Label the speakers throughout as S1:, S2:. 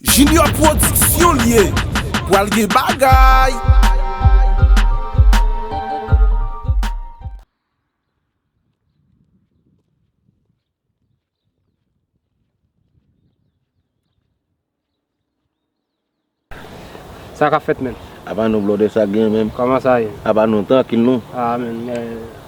S1: Junior production li ye pwal gen bagay.
S2: Sa kap fèt menm? Apa nou blòdè sa
S3: gen menm? Kòman sa ye? Apa
S2: nou trankil nou?
S3: Ah menm.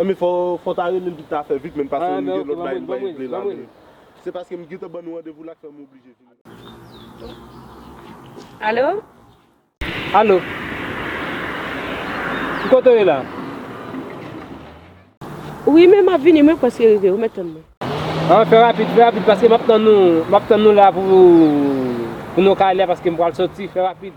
S2: Anmweyy
S3: fò ta relel tout ta fè vit menn pase ou gen lòt bagay mwen vle la men se
S2: paske m gentan
S3: ban nou randevou la k fè m oblije vini la.
S4: Alo?
S2: Alo? Ki kote w ye la?
S4: Wi men m ap vini mwen prèske rive ou mèt tann mwen. An fè
S2: rapid fè rapid paske m ap tann nou m ap tann nou la pou nou ka ale paske m pral soti fè rapid.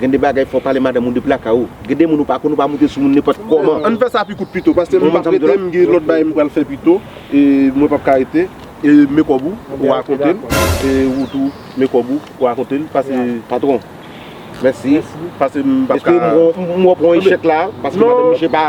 S5: Gen de bagay fò pale madanm ou depi lakay ou. Gen de moun ou pa konn ou pa moute sou moun nenpòt kòman. Ann fè sa pi kout pito
S3: paske m pap rete m gen lòt bagay m pral fè pito e mwen pap ka rete e men kòb ou ou rakonte l e ou tou men kòb ou ou rakonte l pase patron
S5: mèsi pase m
S3: pap ka. Eske m wè
S5: w pran echèk la paske madanm misye pa.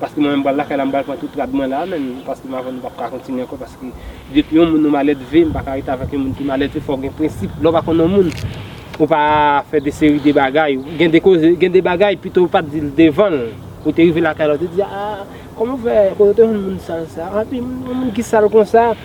S2: Paske mwen menm pral lakay la m pral pran tout rad mwen la menn paske m avèw nou pap ka kontinye ankò paske depi yon moun nou malèdve m paka rete avèk yon moun ki malèdve fòw gen prensip lèw pa konn yon moun ou pa fè de seri de bagay gen de koze gen de bagay pito ou pat dil devanl ou te rive lakay la ou te di aah kòman ou fè kote ou te jwenn moun sal sa anpi yon moun ki sal konsa.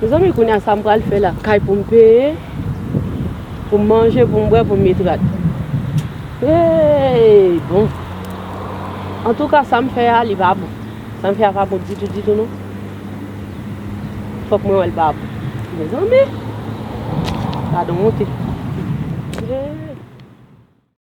S4: Mezanmi kounya sam pral fè la. Kay poum peye, poum manje, poum bwè, poum met rad. Hey bon. Antouka sam fè a li pa bon. Sam fè a pa bon ditou ditou non. Fòk mwen wèl pa bon. Mezanmi. Gadon wonte. Hey.